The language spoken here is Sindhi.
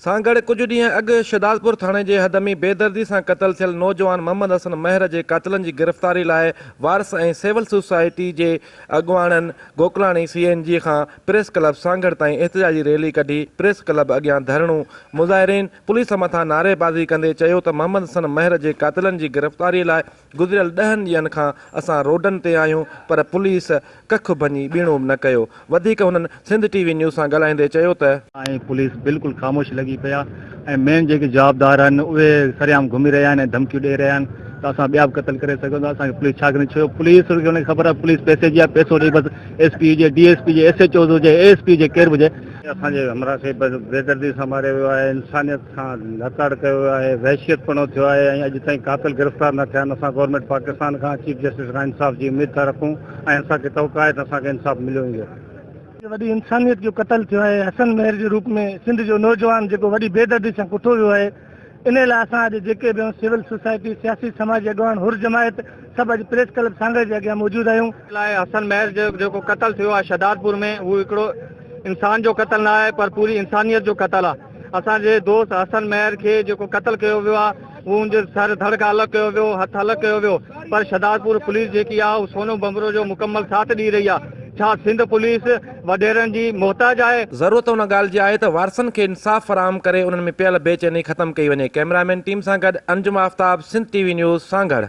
سان گڏ ڪجهه ڏينهن اڳ شھدادپور ٿاڻي جي حد ۾ بيدردي سان قتل ٿيل نوجوان محمد حسن مهر جي قاتلن جي گرفتاري لاء وارث ۽ سول سوسائٽي جي اڳواڻن گوڪلاڻي سي اين جي کان پريس ڪلب سانگهڙ تائين احتجاجي ريلي ڪڍي پريس ڪلب اڳيان ڌرڻو مظاهرين پوليس مٿان نعري بازي ڪندي چيو ته محمد حسن مهر جي قاتلن جي گرفتاري لاء گذريل ڏهن ڏينهن کان اسان روڊن تي آهيون پر پوليس ڪک ڀڃي ٻيڻو به نه ڪيو. وڌيڪ هنن سنڌ ٽي وي نيوز سان ڳالهائيندي چيو ته. ۽ پوليس بلڪل خاموش لڳي پئي آهي ۽ مين جيڪي جوابدار آهن اهي سرعام گهمي رهيا آهن ۽ ڌمڪيون ڏئي رهيا آهن ته اسان ٻيا به قتل ڪري سگهون ٿا اسان کي پوليس ڇا ڪندي ڇو پوليس کي ان کي خبر آهي پوليس پئسي جي آهي پئسو ڏئي بس ايس پي هجي ڊي ايس پي هجي ايس ايچ اوز هجي اي ايس پي هجي ڪير به هجي اسان جي همراهه کي بيدردي سان ماريو ويو آهي، انسانيت کان لاچاڙ ڪيو ويو آهي، وحشيتپڻو ٿيو آهي ۽ اڄ تائين قاتل گرفتار نه ٿيا آهن، اسان گورنمينٽ پاڪستان کان چيف جسٽس کان انصاف جي اميد ٿا رکون ۽ اسان کي توقع آهي ته اسان کي انصاف مليو ويندو. هڪ وڏي انسانيت جو قتل ٿيو آهي، حسن مهر جي روپ ۾ سنڌ جو نوجوان جيڪو وڏي بيدردي سان ڪٺو ويو آهي، انهيء لاء اسان اڄ جيڪي به آهيون، سول سوسائٽي، سياسي سماجي اڳواڻ، حر جماعت، سڀ اڄ پريس ڪلب سانگهڙ جي اڳيان موجود آهيون. لاء حسن مهر جو جيڪو قتل ٿيو آهي شهدادپور ۾ اهو هڪڙو انسان جو قتل نه آهي پر پوري انسانيت جو قتل آهي اسان جي دوست حسن مهر کي جيڪو قتل ڪيو ويو آهي اهو ان جو سر ڌڙ کان الڳ ڪيو ويو هٿ الڳ ڪيو ويو پر شهدادپور پوليس جيڪي آهي اهو سونو ڀنڀرو جو مڪمل ساٿ ڏئي رهي آهي ڇا سنڌ پوليس وڏيرن جي محتاج آهي. ضرورت ان ڳالهه جي آهي ته وارثن کي انصاف فراهم ڪري انهن ۾ پيل بي چيني ختم ڪئي وڃي، ڪئميرا مين ٽيم سان گڏ Anjum Aftab, Sindh T V news, Sanghar.